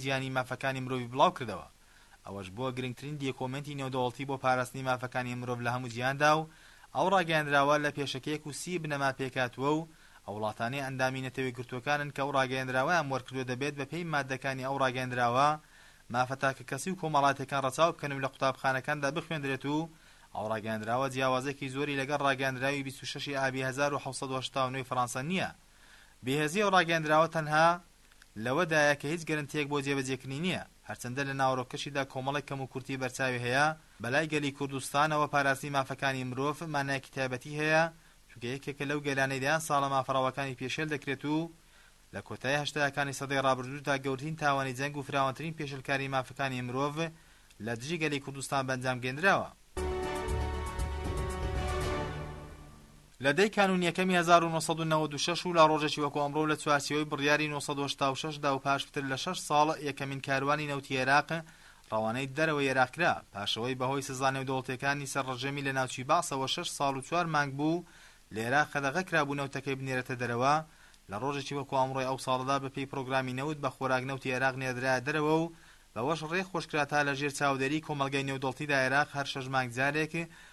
جیهانی مافەکانی مرۆڤی بڵاو کردەوە، ئەوەش بووە گرنگترین دێکۆمێنتی نێودەوڵتی بۆ پاراستنی مافەکانی مرۆڤ لە هەموو جیهاندا و ئەو ڕاگەیەندراوە لە پێشەکیەک و سی بنەما پێکهاتووە و ئەو وڵاتانەی ئەندامی نەتەوە یەکگرتووەکانن کە ئەو ڕاگەیەندراوەیان وەرکردووە دەبێت بە پێی ماددەکانی ئەو ڕاگەیەندراوە مافە تاکەکەسی و کۆمەڵایەتیەکان ڕەچاو بکەن و لە قوتابخانەکاندا بخوێندرێت و ئەو ڕاگەیەندراوە جیاوازێکی زۆری لەگەڵ ڕاگەیەندراوی بیست و شەش ی ئابی هەزار و حەوت سەد و هەشتا و نۆ ی فەڕانسە نییە بێهێزی ئەو ڕاگەیەندراوە تەنها لەوەدایە کە هیچ گەرەنتییەک بۆ جێبەجێکردنی نییە، هەرچەندە لە ناوەرۆکەشیدا کۆمەڵێک کەموکورتی بەرچاوی هەیە، بەلای گەلی کوردستانەوە پاراستنی مافەکانی مرۆڤ مانایەکی تایبەتی هەیە، چونکە یەکێکە لەو گەلانەی دەیان ساڵە مافە ڕەواکانی پێشێل دەکرێت و لە کۆتایی هەشتایەکانی سەدەی ڕابردوودا گەورترین تاوانی جەنگ و فراوانترین پێشێلکاریی مافەکانی مرۆڤ لە دژی گەلی کوردستان بەنجام گەیندراوە. لە دەی کانوون یەکەمی هەزار و نۆ سەد و نەوەد و شەش و لە ڕۆژێکی وەکو ئەمڕۆ و لە چوارچێوەی بڕیاری نۆ سەد و هەشتا و شەش دا و پاش پتر لە شەش ساڵ یەکەمین کاروانی نەوتی ئێراق ڕەوانەی دەرەوەی ئێراق کرا پاشەوەی بە هۆی سزا نێودەوڵتیەکانی سەر ڕژێمی لە ناوچی بەعسەوە شەش ساڵ و چوار مانگ بوو لە ئێراق قەدەغە کرابوو نەوتەکەی بنێرێتە دەرەوە لە ڕۆژێکی وەکو ئەمڕۆی ئەو ساڵەدا بە پێی پرۆگرامی نەوت بە خۆراک نەوتی ئێراق نێردرایە دەرەوە و بەوەش ڕێ خۆش کرا تا لە ژێر چاودێری کۆمەڵگەی نێودەوڵتیدا ئێراق هەر شەش مانگ جارێک